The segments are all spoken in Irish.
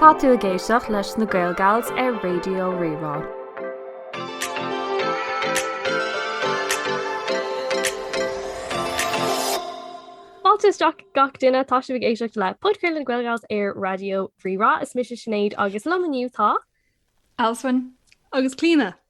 Tá tú ag éisteacht leis na Gaelgals ar Raidió Rí-Rá. Fáilte isteach gach duine tá sibh ag éisteacht le Podchraoladh na Gaelgals ar Raidió Rí-Rá. Is mise Sinéad agus liom inniu tá Alswyn agus Clíona.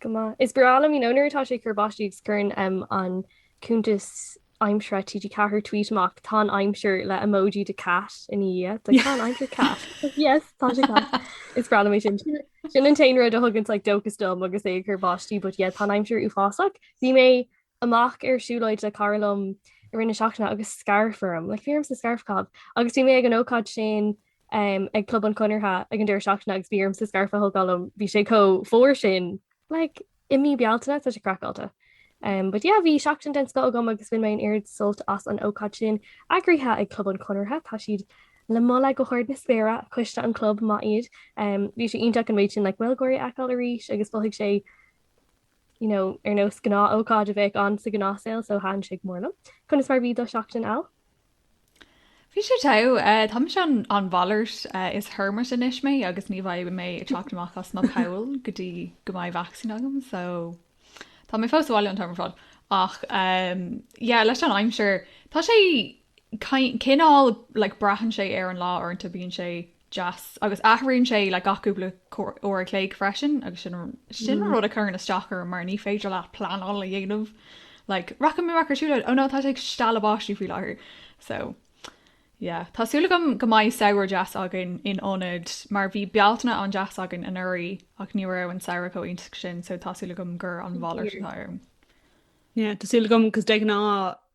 Go maith. Is breá liom í nó nuair atá sé ag cur báistí agus cuireann an cuntas aimsire TG4 tweet amach tá an aimsir le emoji de cat ina dhiaidh tá an aimsir cat. Yes tá sé cat. Is breá liom é sin. Sin an t-aon rud a thugann like dóchas dom agus é ag cur báistí, but yeah tá an aimsir uafásach. Bhí mé amach ar siúlóid le cara liom i rith na seachtaine agus scairf orm, like bhí ormsa scairf a chaitheamh, agus bhí mé ag an ócáid sin ag Club an Chonartha ag an deireadh seachtaine agus bhí ormsa scairf a thógáil liom, bhí sé chomh fuar sin. Like, i mí Bealtaine, tá sé craiceáilte. But yeah, bhí seachtain den scoth agam agus bhain mé an oiread sult as an ócáid sin. Eagraithe ag Club an Chonartha, tá siad le moladh go hard na spéire, coiste an chlub maith iad. Bhí sé iontach an méid sin like Gaeilgeoirí a fheiceáil arís agus mhothaigh sé, you know, ar nós gnáth-ócáid a bheadh ann sa gnáthsaol, so thaitin sé go mór liom. Conas mar bhí do sheachtain, Al? Bhí sé teo, eh, tá mise an, an mhalairt, eh, is hermit anois mé agus ní bheidh mé ag teacht amach as mo pholl go dtí go mbeidh vacsaín agam, so tá mé fós sa bhaile an t-am ar fad. Ach, em, yeah, leis an aimsir, tá sé cin- cineál, like, braitheann sé ar an lá uaireanta, bíonn sé deas agus athraíonn sé le gach cúpla uair a chloig freisin agus sin sin rud a chuireann isteach orm mar ní féidir leat pleanáil a dhéanamh like rachaidh mé amach ar siúlóid oh no tá sé ag stealladh báistí faoi láthair so yeah tá súil agam go mbeidh samhradh deas againn in ionad mar bhí Bealtaine an-deas againn anuraidh ach ní raibh an samhradh chomh iontach sin so tá súil agam gur an mhalairt atá ann. Yeah tá súil agam 'cause de ghnáth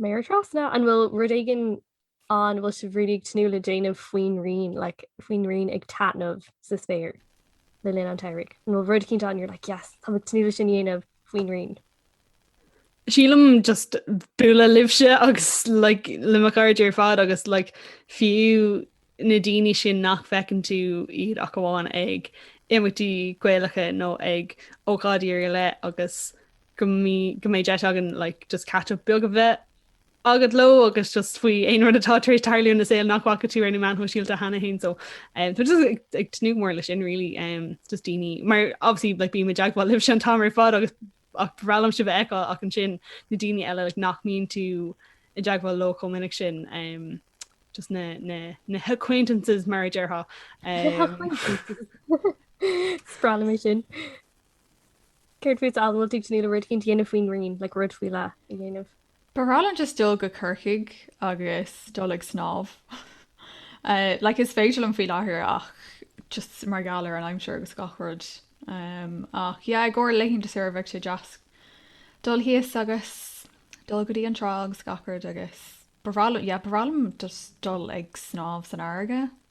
méara trasna, an bhfuil rud éigin ann, bhfuil sibh really ag tnúth le déanamh faoin ghrian, like faoin ghrian ag taitneamh sa spéir le linn an tsamhraidh? An bhfuil rud eicínt ann you're like yes, táim ag tnúth leis sin a dhéanamh faoin ghrian? Sílim just bualadh libhse agus like le mo chairde ar fad agus like fiú na daoine sin nach bhfeiceann tú iad ach amháin ag imeachtaí Gaelacha nó ag ócáidí ar leith agus go mbeidh, go mbeidh deis againn like just catch up beag a bheith agat leo agus just faoi aon rud atá tar éis tarlú ina saol nach bhfaca tú ar na meáin shóisialta cheana féin so um, so just ag, ag tnúth mór leis sin really um, just daoine mar obviously like, bím i dteagmháil libhse an t-am ar fad agus Ach ba bhreá liom sibh a fheiceáil ach ansin na daoine eile like nach mbíonn tú i dteagmháil leo chomh minic sin, just na h'acquaintances' mar a déarfá. Is breá liom é sin. Céard fút, Al, bhfuil tú ag tnúth le rud eicínt a dhéanamh faoin ghrian like rud faoi leith a dhéanamh? Ba bhreá liom just dul go Corcaigh agus dul ag snámh. Like is féidir liom faoi láthair ach just mar gheall ar an aimsir agus gach rud. Um, ach yeah, i gcóir laethanta saoire bheadh sé deas dul thíos agus dul go dtí an trá agus gach rud agus ba bhreá liom, yeah, ba bhreá liom just dul ag snámh san fharraige.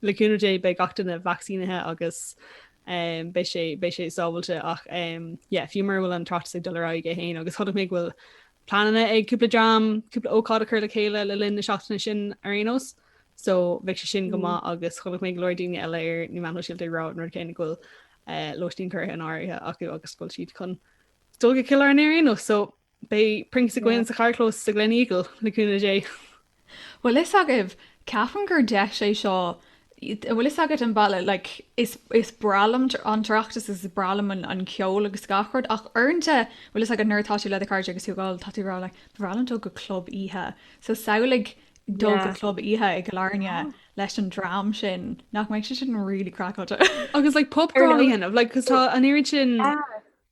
Le cúnamh Dé beidh gach duine vacsaínithe agus beidh sé beidh sé sábhailte ach yeah fiú mura bhfuil an tOireachtas ag dul ar aghaidh é féin agus chonaic mé go bhfuil pleananna ag cúpla dream cúpla ócáid a chur le chéile le linn na seachtaine sin ar aon nós so bheadh sé sin go mm. maith agus chonaic mé go leor daoine eile ar na meáin shóisialta ag rá an rud céanna go bhfuil eh, lóistín curtha in áirithe acu agus go bhfuil siad chun dul go Cill Airne ar aon nós so Beidh prinks againn sa charrchlós sa Gleneagle le cúnamh Dé. Bhfuil fhios agaibh, ceapaim gur deis é seo, an bhfuil fhios agat an bealach, like, is, is breá liom an tOireachtas agus is breá liom an ceol agus gach rud ach uaireanta, an bhfuil fhios agat, nuair atá tú le do chairde agus tú ag ól tá tú ag rá, like, ba bhreá liom dul go club oíche, so samhlaigh dul go club oíche i gCill Airne leis an dream sin, nach mbeidh sé sin really craiceáilte? Agus like pub crawl a dhéanamh, like, 'cause tá an oiread sin.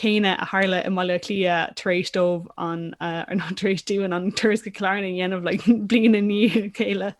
céanna a tharla i mBaile Átha Cliath tar éis dóibh an, ná tar éis dúinn an turas go Cill Airne a dhéanamh like bliain i ndiaidh a chéile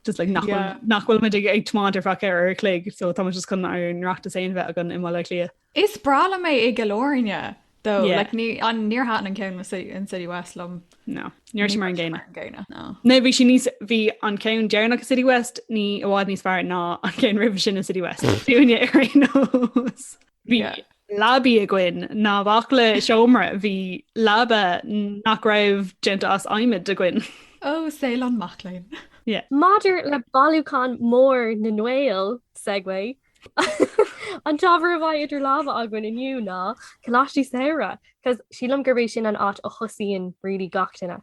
just like nach bhfuil, nach bhfuil muid ag tiomáint ar feadh ceithre uair an chloig so tá muid just chun ár n-oireachtas féin a bheith againn i mBaile Átha Cliath. Is breá liom é i gCill Airne though Yeah. like ní an níor thaitin an ceann in in City West liom. No, ní raibh sé mar an gcéanna. Mar an gcéanna, no. No, bhí sé níos, bhí an ceann deireanach i City West ní i bhfad níos fearr ná an ceann roimhe sin i City West. Dúinne ar aon nós. Bhí leabaí againn ná bhac le seomra, bhí leaba nach raibh déanta as adhmad againn. Ó, saol an mac léinn. Yeah. Maidir le bailiúchán mór na nGael, segue, an t-ábhar a bheidh idir lámha againn inniu ná coláistí samhraidh, 'cause sílim gurb é sin an áit a thosaíonn really gach duine.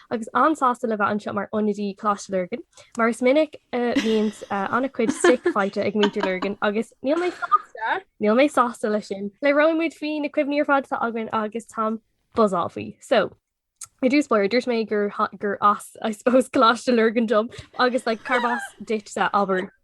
agus an-sásta le bheith anseo mar ionadaí Coláiste Lurgan, mar is minic a bhíonn an-chuid stick faighte ag muintir Lurgan agus níl mé sásta, níl mé sásta leis sin. Labhróidh muid faoi na cuimhní ar fad atá againn agus táim ag buzzáil faoi. So, I dtús báire, dúirt mé gur as, I suppose, Coláiste Lurgan dom agus like cárb as duitse, abair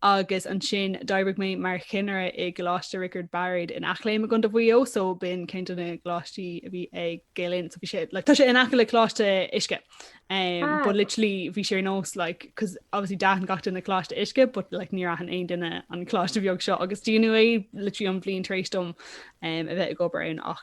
agus ansin d'oibrigh mé mar chinnire i gColáiste Riocard Bairéad in Eachléim i gContae Mhaigh Eo, so b'in ceann de na gcoláistí a bhí ag Gael Linn, so bhí sé, like, tá sé in aice le Coláiste Uisce, um, Ah. but literally bhí sé ar nós, like, 'cause obviously d'aithin gach duine Coláiste Uisce, but like níor aithin aon duine an coláiste bheag seo, agus dúnadh é literally an bhliain tar éis dom, um, a bheith ag obair ann, ach,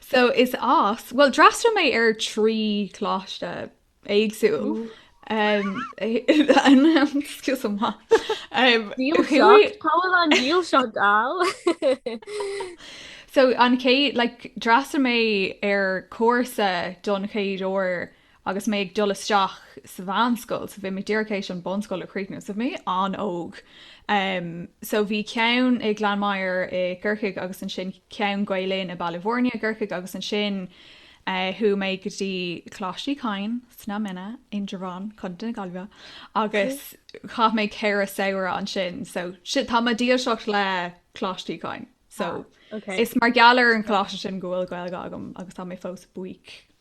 So is as, bhuel d'fhreastail mé ar trí coláiste éagsúil. Um, excuse me. Um, Dílseacht, cá bhfuil an dílseacht gal. So an chéad like d'fhreastail mé ar cúrsa don chéad uair Agus mé ag dul isteach sa mheánscoil, so bhí mé díreach théis an bunscoil a chríochnú, so bhí mé an-óg. So bhí ceann i Glanmire i gCorcaigh agus ansin ceann, Gael Linn, i mBaile Bhuirne i gCorcaigh agus ansin chuaigh mé go dtí Coláiste Uí Chadhain sna Minna, Indreabhán, Co. na Gaillimhe agus chaith mé ceithre samhradh ansin, so tá mo dhílseacht le Coláiste Uí Chadhain. So is mar gheall ar an choláiste sin go bhfuil Gaeilge agam agus tá mé fós buíoch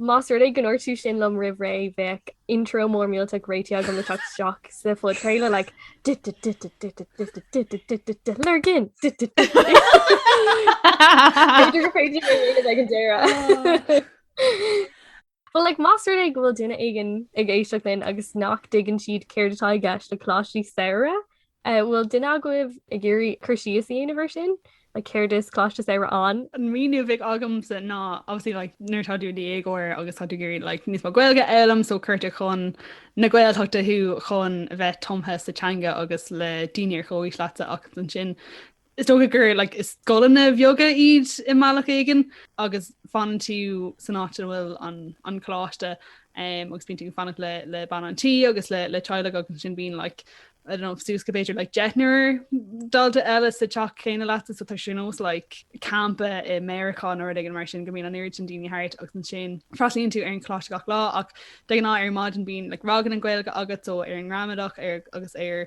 Más rud é go ndúirt tú sin liom roimh ré bheadh intro mór mílteach réitithe agam le teacht isteach sa phodchraoladh le Lurgan! B'fhéidir go féidir mé aonad ag an deireadh. Bhuel like más rud é go bhfuil duine éigin ag éisteacht linn agus nach dtuigeann siad céard atá i gceist le Coláistí Samhraidh Eh bhfuil duine agaibh ag iarraidh cur síos a dhéanamh air sin? Like céard is coláiste samhraidh ann? An míniú a bheadh agamsa ná obviously like nuair atá tú i dhéagóir agus tá tú ag iarraidh like níos mó Gaeilge a fhoghlaim so cuirtear chun na Gaeltachta thú chun a bheith tumtha sa teanga agus le daoine ar chomhaois leatsa ach ansin Is dócha gur like, is scoileanna bheaga iad i mbealach éigin agus fanann tú san áit a bhfuil an, an coláiste um, agus bíonn tú ag fanacht le, le bean an tí agus le, le teaghlach agus ansin bíonn like, I don't know, suas go b'fhéidir like, deichniúr dalta eile sa teach céanna leat so tá sé ar nós like, campa i Meiriceá nó rud éigin mar sin go mbíonn an oiread sin daoine thart agus ansin freastalaíonn tú ar an choláiste gach lá ach de ghnáth ar maidin bíonn like, ranganna Gaeilge agat so ar an ngramadach ar agus ar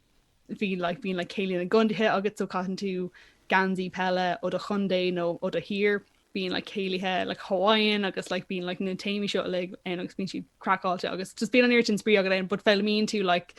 bhí like bíonn like céilí na gcontaetha agus so caitheann tú geansaí peile ó do chontae nó ó do thír. bíonn like céilithe like Hawaiian agus like bíonn like na téamaí seo uilig ann agus bíonn siad craiceáilte agus just bíonn an oiread sin spraoi agat ann but foghlaimíonn tú like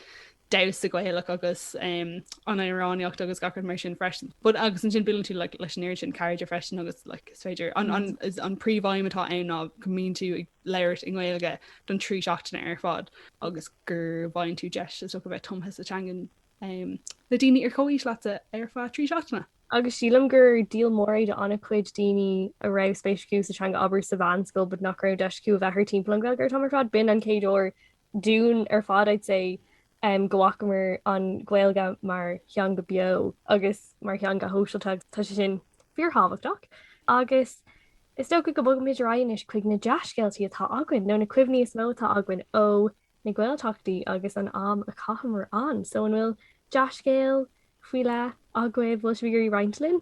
damhsa Gaelach agus um, an amhránaíocht agus gach rud mar sin freisin. But agus ansin buaileann tú like, leis an oiread sin cairde freisin agus like, is féidir an, an, is an príomhaidhm atá ann ná go mbíonn tú ag labhairt i nGaeilge don trí seachtaine ar fad agus go bhfaigheann tú deis a bheith tumtha sa teangan le daoine ar chomhaois leat ar feadh trí seachtaine. Agus sílim gur deal mór é do an-chuid daoine a raibh spéis acu sa teanga abair sa mheánscoil but nach raibh deis acu a bheith thart timpeall an Ghaeilge an t-am ar fad. B'in an chéad uair dúinn ar fad, I'd say, go bhfacamar an Ghaeilge mar theanga beo agus mar theanga shóisialta agus tá sé sin fíorthábhachtach agus is dócha go mbogfaimid ar aghaidh anois chuig na dea-scéaltaí atá againn nó na cuimhní is mó atá againn ó na Gaeltachtaí agus an am a chaitheamar ann. So an bhfuil dea-scéal faoi leith agaibh, an bhfuil sibh ag iarraidh roinnt linn?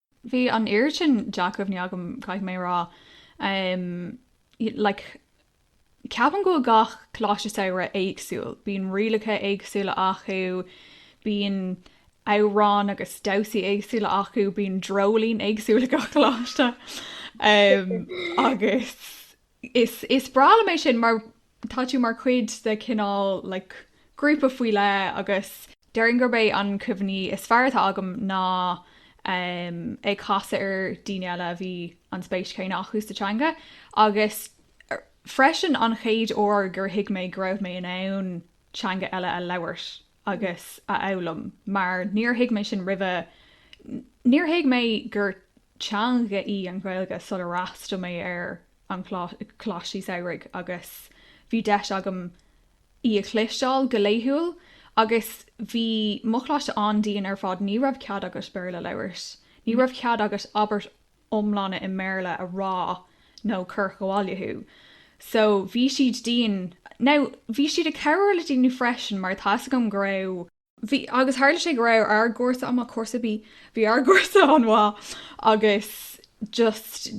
Bhí an oiread sin dea-chuimhní agam, caithfidh mé a rá. Like, ceapaim go mbíonn gach Coláiste Samhraidh éagsúil. Bíonn rialacha éagsúla acu, bíonn amhráin agus damhsaí éagsúla acu, bíonn dreoilín éagsúil ag gach coláiste. Agus Is breá liom é sin mar tá tú mar chuid de cineál like grúpa faoi leith agus. déarfainn gurb é an cuimhne is fearr atá agam ná em ag casadh ar daoine eile a bhí an spéis chéanna acu sa teanga agus freisin an chéad uair gur thuig mé go raibh mé in ann teanga eile a labhairt. agus a fhoghlaim mar níor thuig mé sin roimhe, níor thuig mé gur teanga í an Ghaeilge sular fhreastal mé ar an gColáiste Samhraidh agus bhí deis agam í a chloisteáil go laethúil agus bhí mo Choláiste an-dian ar fad, ní raibh cead agat Béarla a labhairt, ní raibh cead agat abairt iomlán i mBéarla a rá nó cuireadh abhaile thú. So bhí siad dian. Now bhí siad ag cabhrú le daoine freisin mar tá's agam go raibh, bhí, agus tharla sé go raibh ár gcúrsa, em, cúrsa B, bhí ár gcúrsa an-mhaith agus just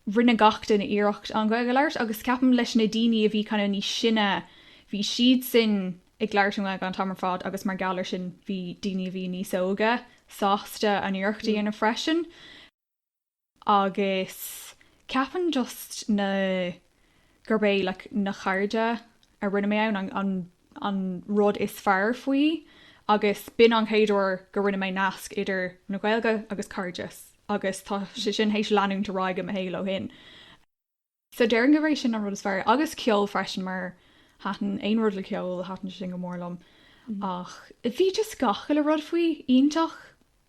rinne gach duine iarracht an Ghaeilge a labhairt agus ceapaim leis na daoine a bhí kind of níos sine bhí siadsan, ag labhairt i nGaeilge an t-am ar fad agus mar gheall air sin bhí daoine a bhí níos óga sásta an iarracht a dhéanamh freisin agus ceapaim just ná gurb é like na cairde a rinne mé ann an an rud is fearr faoi agus b'in an chéad uair go rinne mé nasc idir na Gaeilge agus cairdeas agus tá sé sin théis leanúint ar aghaidh i mo shaol ó shin. So déarfainn gurb é sin an rud is fearr. Agus ceol freisin mar thaitin aon rud le ceol thaitin sin go mór liom. Ach bhí just gach uile rud faoi iontach.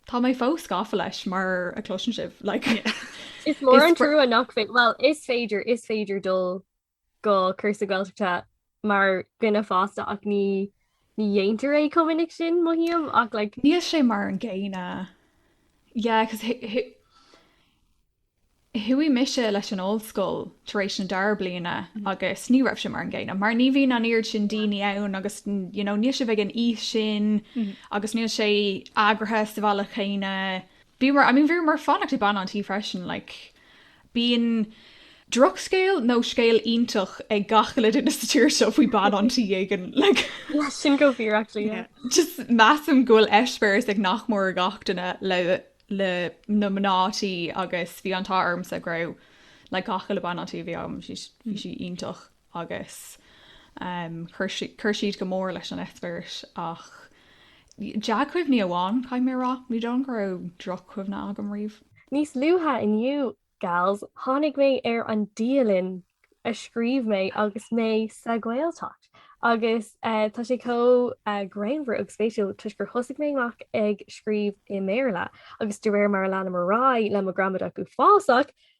Tá mé fós gafa leis mar a chloiseann sibh like Is mór an trua nach féidir, bhuel is féidir, is féidir dul go cúrsa Gaeltachta mar dhuine fásta ach ní ní dhéantar é chomh minic sin mothaím ach like. Níl sé mar an gcéanna yeah cos chuaigh mise leis an ollscoil tar éis na dara bliana agus ní raibh sé mar an gcéanna mar ní bhíonn an oiread sin daoine ann agus you know níl sibh ag an aois sin agus níl sé eagraithe sa bhealach céanna. Bhíomar I mean bhíomar ag fanacht ag bean an tí freisin like Bíonn drochscéal nó scéal iontach ag gach uile duine sa tír seo faoi bean an tí éigin. Like, Sin chomh fíor actually, yeah. yeah. Just measaim go bhfuil eispéireas ag nach mór ag gach duine le le na mná tí agus bhí an t-ádh ormsa go raibh like gach uile bean an tí a bhí agam bhí sí bhí sí iontach. agus chuir siad go mór leis an eispéireas ach dea-chuimhní amháin caithfidh mé a rá, ní dóigh liom go raibh droch-chuimhne agam riamh. Níos luaithe inniu, gals, tháinig mé ar an dialann a scríobh mé agus mé sa Ghaeltacht agus tá sé chomh greannmhar agus spéisiúil toisc gur thosaigh mé amach ag scríobh i mBéarla agus de réir mar a lean mé ar aghaidh le mo ghramadach uafásach,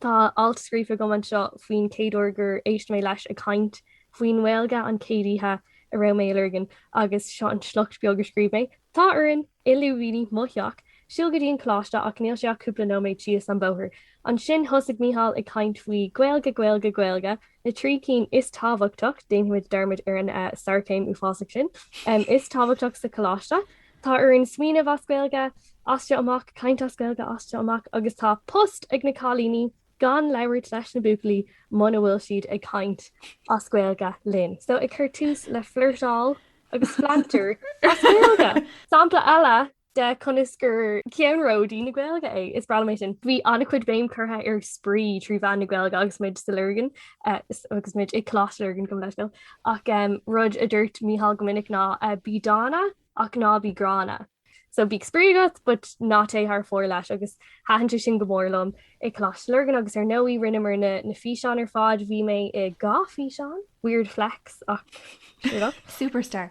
Tá alt scríofa agam anseo faoin chéad uair gur éist mé leis ag caint faoin nGaeilge an chéad oíche a raibh mé i Lurgan agus seo an sliocht beag a scríobh mé. Tá orainn, i lúibíní, mo theach, siúl go dtí an coláiste ach níl sé ach cúpla nóiméad síos an bóthar. Ansin thosaigh Mícheál ag caint faoi Gaeilge, Gaeilge, Gaeilge, na trí cinn is tábhachtach, déanfaimid dearmad ar an Sarcasm uafásach sin, is tábhachtach sa choláiste. Tá orainn smaoineamh as Gaeilge, as sin amach, caint as Gaeilge, as sin amach agus tá post ag na cailíní gan labhairt leis na buachaillí muna bhfuil siad ag caint as Gaeilge linn. So ag cur tús le flirteáil agus pleantar as Gaeilge. Sampla eile de conas gur ceannródaí na Gaeilge é. Is breá liom é sin. Bhí an-chuid béim curtha ar spraoi trí mheán na Gaeilge agus muid sa Lurgan, agus muid ag Coláiste Lurgan gabh mo leithscéal. ach rud a dúirt Micheál go minic ná bí dána ach ná bí gránna. So bíodh spraoi agat but ná téigh thar fóir leis agus thaitin sé sin go mór liom ag Coláiste Lurgan agus ar ndóigh rinneamar na físeáin ar fad, bhí mé i dhá físeán, weird flex ach sure enough. Superstar.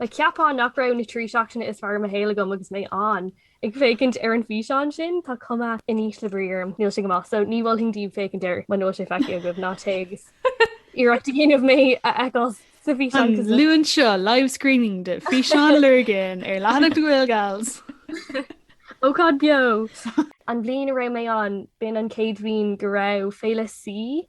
Like Cheapfá nach raibh na trí seachtaine is fearr i mo shaol agam agus mé an, ag féachaint ar an físeán sin, tá cuma chomh in ísle brí orm, níl sí go maith, so ní mholfainn daoibh féachaint air mura bhfuil sé feicthe agaibh, ná téigh agus iarracht a dhéanamh mé a fheiceáil sa bhfíseán cos An Luan seo, live screening de físeán Lurgan ar leathanach The Gael Gals. Ócáid beo! An bhliain a raibh mé ann, b'in an chéad bhliain go raibh Féile C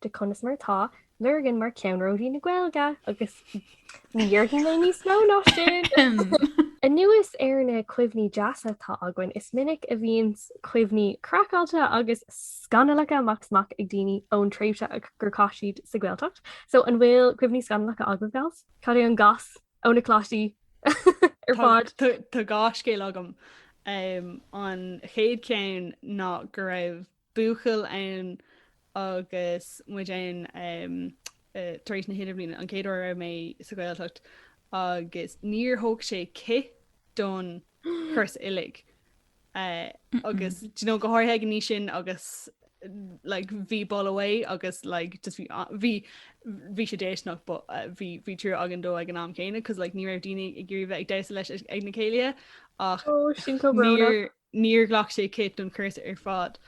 de conas mar atá Lurgan mar cheannródaí na Gaeilge agus ní dhéarfaidh mé níos mó ná sin! Anuas ar na cuimhní deasa atá againn, is minic a bhíonn cuimhní craiceáilte agus scannallacha amach is amach ag daoine ón tréimhse gur chaith siad sa Ghaeltacht. So an bhfuil cuimhní scannallacha agaibh, gals? Cad é an goss ó na coláistí ar fad? Tá dhá scéal agam. An chéad ceann ná go raibh buachaill ann agus muid ann tar éis na hIdirbhliana, an chéad uair a raibh mé sa Ghaeltacht agus níor thóg sé cith don chúrsa uilig agus nó go háirithe ag an aois sin agus like bhí boladh uaidh agus like just bhí uh, bhí bhí sé déisteanach uh, bhí bhí trua againn dó ag an am céanna cos like ní raibh daoine ag iarraidh bheith ag damhsa leis ag na céilithe ach oh, sin Níor ghlac sé cith don chúrsa ar fad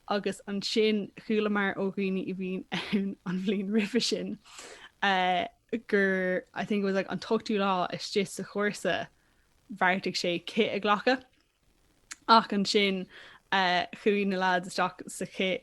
agus ansin chualamar ó dhaoine a bhí ann an bhliain roimhe sin gur, I think it was like an t-ochtú lá istigh sa chúrsa, bheartaigh sé cith a ghlacadh. Ach ansin chuaigh na lads isteach sa chith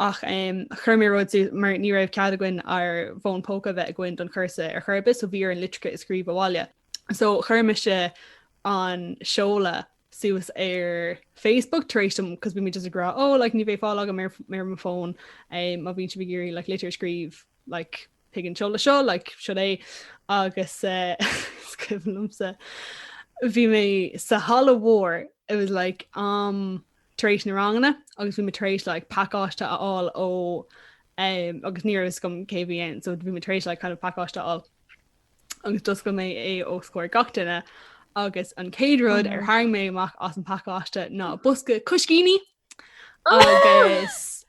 ach chuir mé rud suas mar ní raibh cead againn ár bhfón póca a bheith againn don chúrsa ar chor ar bith so bhí orainn litreacha a scríobh abhaile. So chuir mise an seoladh suas ar Facebook tar éis dom 'cause bhí mé just ag rá ó like ní bheidh fáil agam ar m'fhón má bhíonn sibh ag iarraidh like litir a scríobh like chuig an seoladh seo like seo é agus is cuimhin liomsa bhí mé sa halla mhór it was like am tar éis na ranganna agus bhí mé tar éis like pacáiste a fháil ó um, agus ní raibh a fhios agam cé a bhí ann so bhí mé tar éis like kind of pacáiste a fháil agus d'oscail mé é os comhair gach duine agus an chéad rud a tharraing mé amach as an pacáiste ná bosca coiscíní agus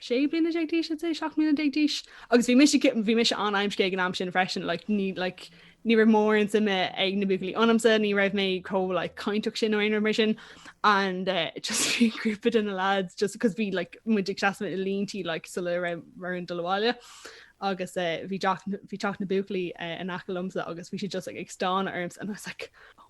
sé bliana déag d'aois I'd say, seacht mbliana déag d'aois agus bhí mise ci- bhí mise an-amscaí ag an am sin freisin like, ní like, ní raibh mórán suime ag na buachaillí ionamsa, ní raibh mé chomh like, cainteach sin nó aon rud mar sin and uh, just bhí grúpa de na lads just because bhí like, muid ag seasamh i línte like, sula raibh muid chun dul abhaile agus uh, bhí teach na- bhí teach na buachaillí uh, in aice liomsa agus bhí siad just like, ag stánadh ormsa and I was like, oh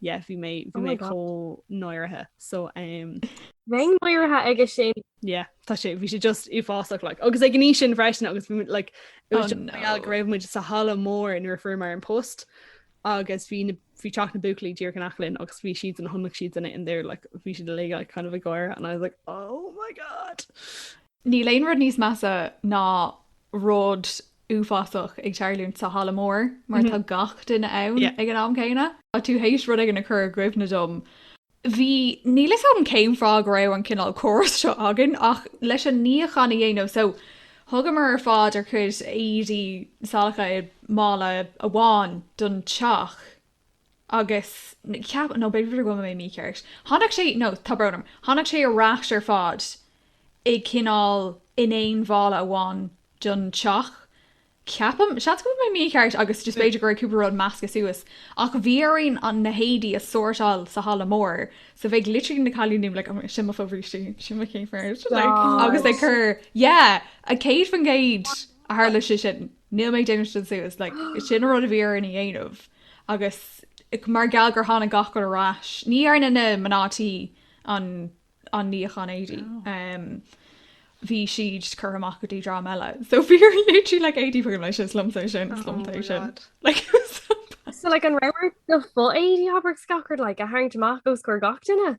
yeah, bhí mé bhí mé chomh náirithe so um, Bheinn náirithe aige sin yeah, tá sé bhí sé just uafásach like. agus ag an aois sin freisin agus bhí muid, like, it was Oh, just no. mé go raibh muid sa halla mór nuair a fuaireamar an post agus bhí na- bhí teach na buachaillí díreach in aice linn agus bhí siad an chonaic siad sin and they were like, bhí siad uilig kind of ag gáire and I was like oh my god Níl aon rud níos measa ná rud uafásach ag tarlúint sa halla mór mar tá gach duine ann ag an am céanna. Tá tú tar éis rud éigin a chur i gcuimhne dom. Bhí, níl 'fhios a'm cén fáth go raibh an cineál córas seo againn ach leis an níochán a dhéanamh so thugamar ar fad ár gcuid éadaí salacha i mála amháin don teach agus ceap, nó b'fhéidir go bhfuil mé mícheart, tháinig sé, nó tá brón orm, tháinig sé ar ais ar fad i cineál in aon mhála amháin don teach, ceapaim, seans go bhfuil mé mícheart agus just b'fhéidir go raibh cúpla rud measctha suas, ach bhí orainn na héadaí a sórtáil sa halla mór, so bheadh literally na cailíní like, oh my, sin mo fobhrístí, sin mo chíochbheart, like, agus ag cur, yeah, 100% a tharla sé sin. Níl mé ag déanamh sin suas, like sin an rud a bhí orainn a dhéanamh agus mar gheall gur tháinig gach rud ar ais, ní dhearna na mná tí an an níochán éadaí, bhí siad curtha amach go dtí dream eile, so bhí ort literally like éadaí chugainn, like is liomsa é sin, is liomsa é sin, like it was so bad. So like an raibh ort do fho-éadaí abair scacaird like a tharraingt amach os comhair gach duine?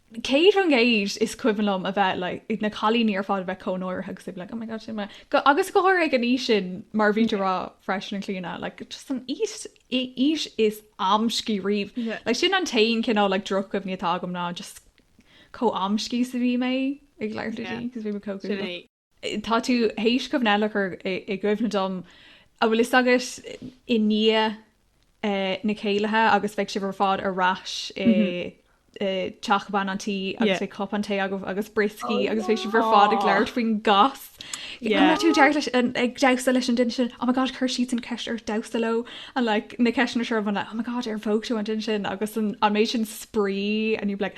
Céad faoin gcéad is cuimhin liom a bheith like na cailíní ar fad a bheith chomh náirithe agus tú bheith like oh my god sin mo agus go háirithe ag an aois sin mar a bhí tú ag rá freisin a Chlíona like just an aois aois is amscaí riamh yeah like sin an t-aon cineál like droch-chuimhní atá agam ná just chomh amscaí is a bhí mé ag labhairt le daoine yeah 'cause bhí mé chomh cúl. tá tú théis cuimhne eile a chur i gcuimhne dom, a' bhfuil 'fhios agat, i ndiaidh eh na céilithe agus bheadh sibh ar fad ar ais i i teach bean an tí agus bheadh cupán tae agaibh agus brioscaí agus bheadh sibh ar fad ag labhairt faoin gcas, an raibh tú dearfa leis an, ag damhsa leis an duine sin, oh my God chuir siadsan an ceist ort damhsa leo and like na ceisteanna seo a bhfuil like oh my God ar phóg tú an duine sin agus an méid sin spraoi and you'd be like,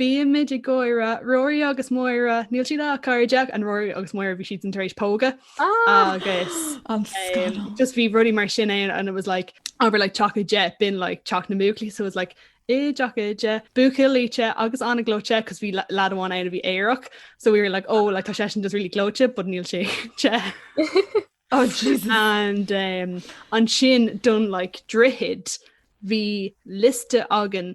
Bhí muid ag gáire, Rory agus Máire, níl siad ach cairdeach, and Rory agus Máire bhí siadsan tar éis pógadh agus An scannal. just bhí rudaí mar sin ann and it was like abair like teach Oide b'in like teach na mbuachaillí so it was like i dteach Oide buachaillí te agus ana-ghleoite 'cause bhí le- lead amháin ann a bhí aerach so we were like oh like tá seisean just really gleoite but níl sé te Oh Jesus. and um, ansin don like droichid bhí liosta againn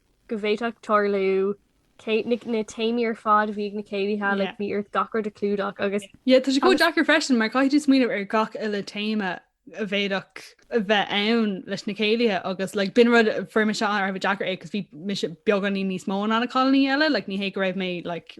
go bhféadfadh tarlú na téamaí ar fad a bhí ag na céilithe, like bhí ort gach rud a chlúdach agus. Yeah, tá sé chomh deacair freisin mar caithfidh tú smaoineamh ar gach uile téama a bhféadfadh a bheith ann leis na céilithe agus like b'in rud a fuair mise go raibh deacair é 'cause bhí mise beagáinín níos mó ná na cailiní eile, like ní hé go raibh mé like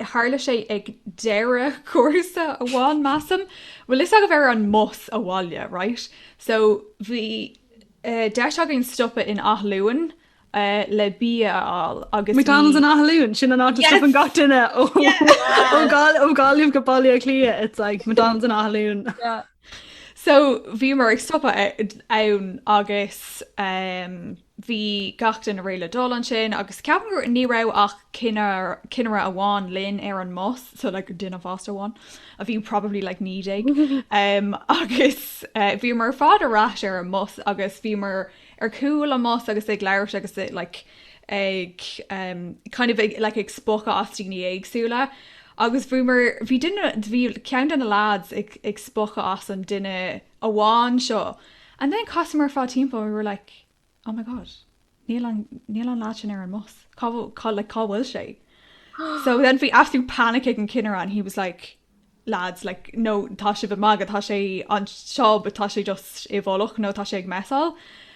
Tharla sé ag deireadh cúrsa amháin measaim. Bhuel fhios agaibh ar an mbus abhaile right so bhí deis againn stopadh in Athlone le bia a fháil agus bhí. McDonald's in Athlone? Sin an áit a stopann gach duine ó Gaillimh go Baile Átha Cliath it's like McDonald's in Athlone. So bhíomar ag stopadh ann agus. Bhí gach duine réidh le dul ansin agus ceapaim gur ní raibh ach cinnire amháin linn ar an mbus, so like duine fásta amháin a bhí probably like 19 um agus eh bhíomar ar fad ar ais ar an mbus agus bhíomar ar chúl an mbus agus ag labhairt agus eh like ag um kind of ag like ag spochadh as daoine éagsúla agus bhíomar bhí duine bhí ceann de na lads ag ag spochadh as an duine amháin seo. And then chasamar ar fad timpeall, we were like, oh my god, níl an, níl an lad sin ar an mbus, cá, cá, like, cá bhfuil sé? So then bhí absolute panic ag an cinnire and he was like, lads, like, no, tá sibh ag magadh, tá sé anseo but tá sé just i bhfolach nó tá sé ag mesáil.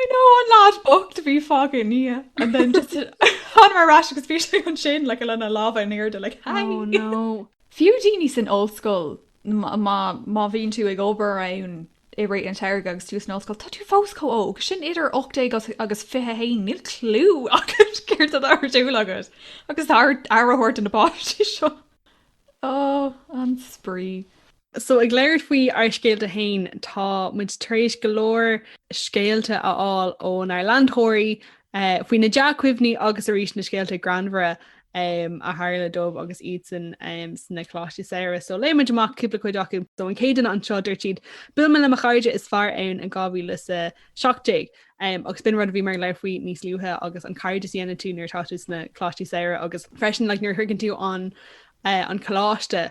I know an lad bocht a bhí fágtha i ndiaidh and then just thángamar ar ais agus bhí sé ansin like lena lámha in airde like hi Oh no. Fiú daoine san ollscoil má má bhíonn tú ag obair ann i rith an tsamhraidh agus tú san ollscoil tá tú fós chomh óg sin idir 18 agus agus 21 níl clú agat céard atá ar siúl agat agus tá ort aire a thabhairt do na páistí seo. Oh an spraoi. So ag labhairt faoi ár scéalta féin, tá muid tar éis go leor scéalta a fháil ónár leantóirí faoi na dea-chuimhní agus arís na scéalta greannmhara a tharla dóibh agus iadsan sna Coláistí Samhraidh. So léifidh muid amach cúpla cuid acu. So an chéad cheann anseo, dúirt siad, Bhuail mé le mo chairde is fearr ann in 2017 agus b'in rud a bhí mé ag labhairt faoi níos luaithe agus an cairdeas a dhéanann tú nuair atá tú sna Coláistí Samhraidh agus freisin like nuair a thuigeann tú an coláiste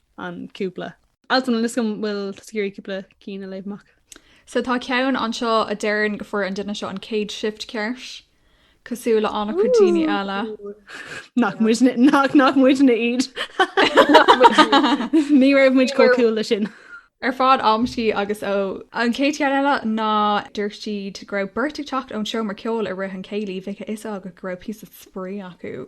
an cúpla. Altan níl a fhios agam an bhfuil tusa ag iarraidh cúpla cinn a léamh amach. So tá ceann anseo a deireann go fuair an duine seo an chéad shift ceart, cosúil le an-chuid daoine eile. Nach muid nach nach muidne iad. Ní raibh muid chomh cool le sin. Ar fad amtí agus ó. An chéad cheann eile ná dúirt siad go raibh beirt ag teacht ón seomra ceoil i rith an céilí bheadh a fhios agat go raibh píosa spraoi acu.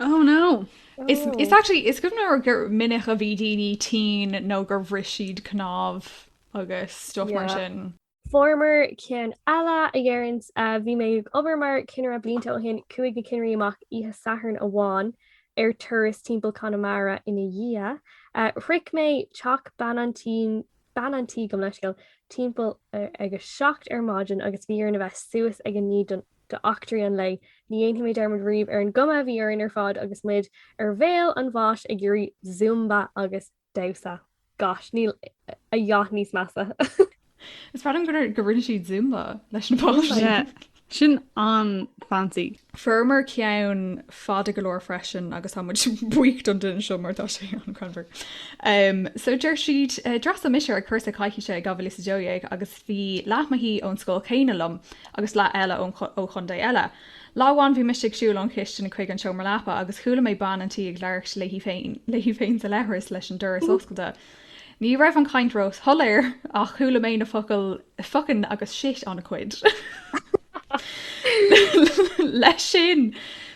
Oh no! It's actually is gom nó gur minic a bhí daoine tinn nó gur bhris siad cnámh agus stuff mar sin. Fuaireamar ceann eile a deireann, bhí mé ag obair mar cinnire blianta ó shin, chuaigh na cinnirí amach oíche Sathairn amháin ar turas timpeall Conamara ina dhiaidh. Shroich mé teach bean an tí bean an tí go meisciúil timpeall ag a seacht ar maidin agus bhí orainn a bheith suas ag a naoi don do eachtraí an lae. Ní dhéanfaidh mé dearmad riamh ar an gcuma a bhí orainn ar fad agus muid ar bhéal an bháis ag iarraidh Zumba agus damhsa. Gosh, níl a dhath níos measa. Is breá liom go rinne siad Zumba leis na páistí. Sin an-fancy. Fuaireamar ceann fada go leor freisin agus tá muid buíoch don duine seo mar tá sé an-ghreannmhar. So deir siad, D'fhreastail mise ar chúrsa coicíse i 2012 agus Bhí leath mo thí ón scoil chéanna liom agus leath eile ón ó chontae eile. Lá amháin bhí mise ag siúl ón chistin chuig an seomra leapa agus chuala mé bean an tí ag labhairt léi féin léi féin sa leithreas leis an doras oscailte. Ní raibh an chaint róshoiléir ach chuala mé na focail fuckin agus shit an-chuid. Leis sin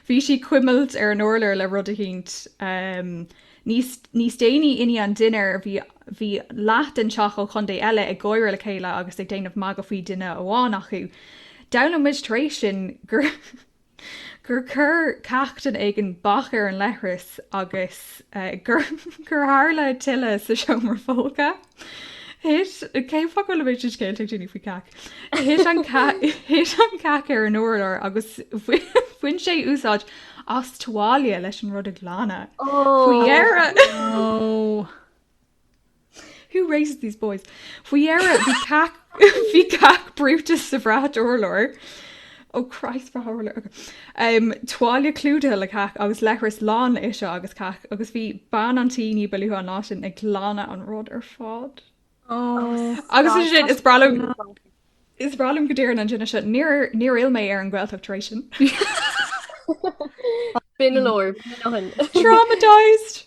bhí sí ag cuimilt ar an urlár le rud eicínt. Níos déanaí i ndiaidh an dinnéar bhí bhí leath den teach ó chontae eile ag gáire le chéile agus ag déanamh magadh faoi dhuine amháin acu. D'fhoghlaim muid tar éis sin gur gur chuir cac duine éigin bac ar an leithreas agus gur tharla tuile sa seomra folctha. Thit, cén fáth go bhfuil an méid sin scéalta ag daoine faoi cac? Thit an cac, thit an cac ar an urlár agus bhain sé úsáid as tuáille leis an rud a ghlanadh. Faoi dheireadh, who raises these boys? Faoi dheireadh bhí cac, bhí cac brúite sa bhrat urláir. Oh Christ bhreá thar lear againn. Tuáille clúdaithe le cac agus leithreas lán le aiseag agus cac agus bhí bean an tí ní ba luaithe an lá sin ag glanadh an rud ar fad. Agus is sin is breá liom is breá liom go ndeireann an duine seo níor níor fhill mé ar an Ghaeltacht tar éis sin. B'in leor. Traumatized!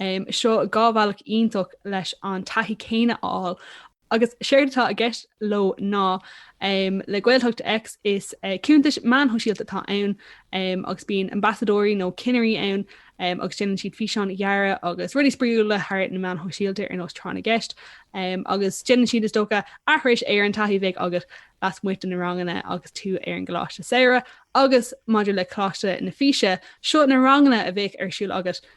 Seo dhá bhealach iontach leis an taithí céanna a fháil. Agus séard atá i gceist leo ná, le Gaeltacht X is cuntais meán shóisialta atá ann agus bíonn ambasadóirí nó cinnirí ann agus déanann siad físeáin ghearra agus rudaí spraíúla thar na meáin shóisialta ar nós Tráth na gCeist agus déanann siad is dócha aithris ar an taithí a bheadh agat lasmuigh de na ranganna agus tú ar an gcoláiste samhraidh. Agus maidir le Coláiste na Físe, seo na ranganna a bheadh ar siúl agat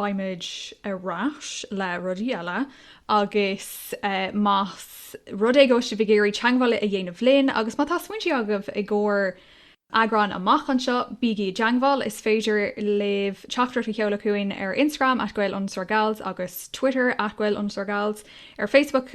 beimid ar ais le rudaí eile agus más rud é go bhfuil sibh ag iarraidh teangmháil a dhéanamh linn agus má tá smaointí agaibh i gcomhair eagráin amach anseo, bígí i dteangmháil! Is féidir libh teachtaireacht a sheoladh chugainn ar Instagram @gael_gals agus Twitter @gael_gals, ar Facebook,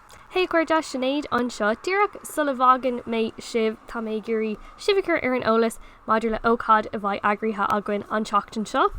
Hey a chairde, Sinéad anseo. Díreach sula bhfágann mé sibh, tá mé ag iarraidh sibh a chur ar an eolas maidir le hócáid a bheidh eagraithe againn an tseachtain seo.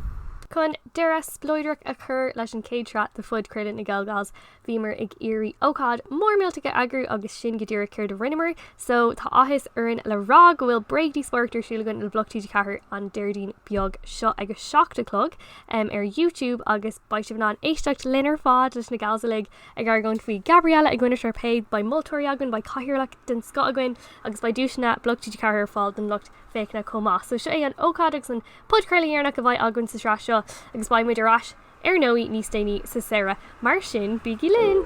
Chun deireadh spleodrach a chur leis an chéad tsraith de Phodchraoladh na GaelGals, bhíomar ag iarraidh ócáid mhór millteach a eagrú agus sin go díreach céard a rinneamar. So, tá áthas orainn le rá go bhfuil bréagdhíospóireacht ar siúl againn le bloc TG4 an Déardaoin beag seo ag a seacht a chlog ar YouTube agus beidh sibh in ann éisteacht linn ar fad, leis na gals uilig, Ag argóint faoi Gabriella i gcoinne Sharpay, beidh moltóirí againn, beidh cathaoirleach den scoth againn agus beidh duaiseanna bloc TG4 ar fáil don lucht féachana chomh maith. So seo é an ócáid agus an podchraoladh dheireanach a bheidh againn sa sraith seo agus beidh muid ar ais ar ndóigh níos déanaí sa samhradh. Mar sin, bígí linn!